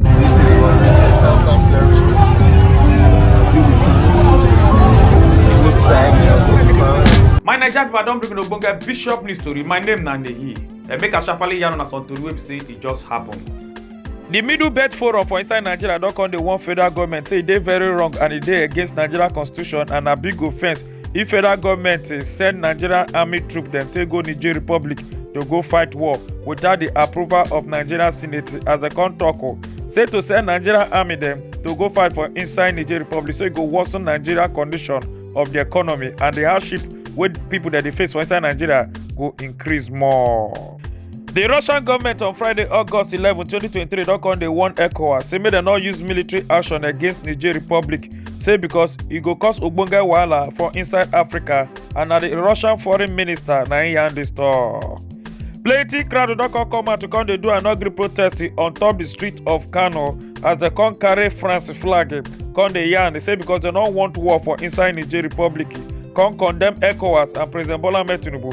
This is what we get as sampler road. See the town. Good side girls of the town. my naija people i don bring una ogbonge bishop news tori my name na nehi eh, make i sharparly yarn una some tori wey be say e just happen. di middle belt forum for inside nigeria don come dey warn federal goment say e dey very wrong and e dey against nigeria constitution and na big offence if federal goment eh, send nigerian army troops dem take go niger republic to go fight war without di approval of nigerian senate as dem come tok o oh, say to send nigerian army dem to go fight for inside niger republic so e go worsen nigeria condition of di economy and di hardship wey pipo dem dey face for inside nigeria go increase more. di russian goment on friday august eleven twenty twenty three don come dey warn ecowas say make dem no use military action against niger republic say because e go cause ogbonge wahala for inside africa and na di russian foreign minister na im yarn dis tok. plenty crowd don come come out to come dey do an ugly protest on top di street of kano as dem come carry france flag come dey yarn say because dem no want war for inside niger republic come condemn ecowas and president bola ahmed tinubu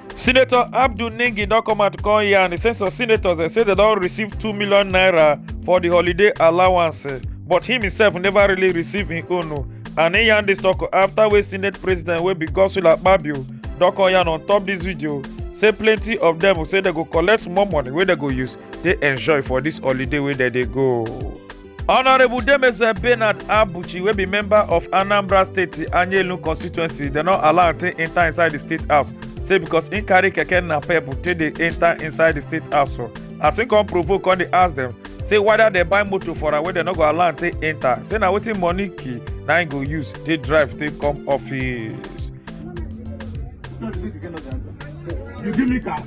senator abdul ningi don come out come yarn say some senators eh, say dem don receive two million naira for di holiday allowance eh, but him himself never really receive him own o and he yarn dis tok afta wey senate president wey be godswill akpabio don come yarn on top dis video say plenty of dem say dem go collect small money wey dem go use dey enjoy for dis holiday wey dem dey go. honourable demezue bernard abuchi wey be member of anambra state anyelu constituency dem no allow am take enter inside di state house say because im carry keke napep take dey enter inside di state house so as im come provoke come dey ask dem say whether dem buy motor for am wey dem no go allow am take enter say na wetin money key na im go use take drive take come office. You give me car?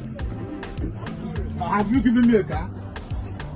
Have you given me a car?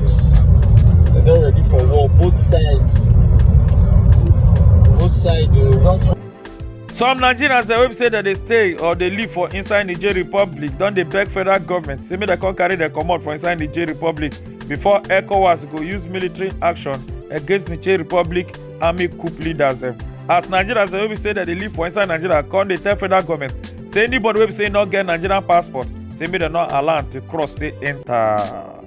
Yes. They don't ready for war, both sides. Both sides, they will not some nigerians dem wey be say dem dey stay or dey live for inside niger republic don dey beg federal government say make dem come carry dem comot for inside niger republic before ecowas go use military action against niger republic army coup leaders dem as nigerians dem wey be say dem dey live for inside nigeria come dey tell federal government say anybody wey be say no get nigerian passport say make dem no allow am to cross stay enter.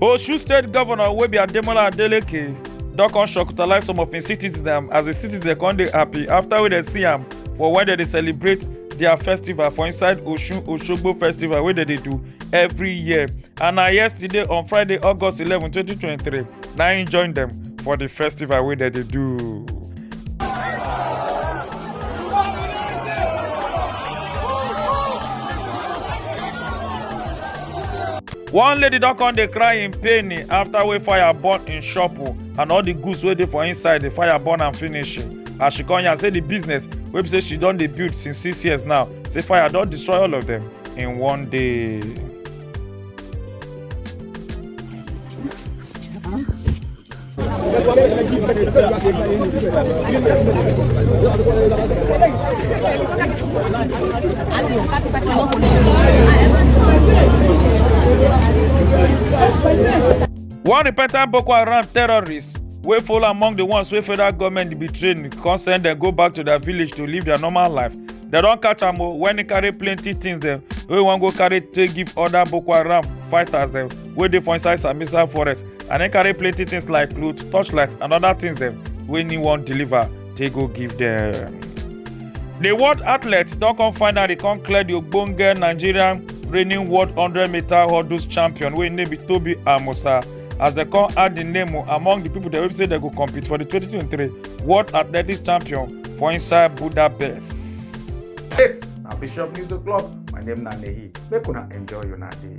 Osun State Governor wey be Ademola Adeleke don come shocktalize some of im citizens dem as di citizens come dey happy after wey dem see am for when dem dey celebrate their festival for inside Osun Osogbo festival wey dem dey do every year and na yesterday on Friday August 11, 2023 na im join dem for di festival wey dem dey do. one lady don come dey cry in pain after wey fire burn im shop o and all the goods wey dey for inside the fire burn am finish as she come yarn say the business wey be say she don dey build since six years now say fire don destroy all of them in one day. one repentant boko haram terrorist wey fall among di ones wey federal goment bin train come send dem go back to dia village to live dia normal life dem don catch am o wen e carry plenty tins dem wey wan go carry take give oda boko haram fighters dem wey dey for inside sambisa forest I then carry plenty things like clothes, torchlight, and other things them wey he wan deliver take go give them. The world athletes don come finally come clear the ogbonge Nigerian reigning world 100 meter hurdles champion wey im name be Tobi Amusa as dem come add the name o among the people dem wey be say dem go compete for the 2023 world athletics champion for inside Budapest. This na Bishop News O'Clock. My name na Nehi. Make una enjoy una day.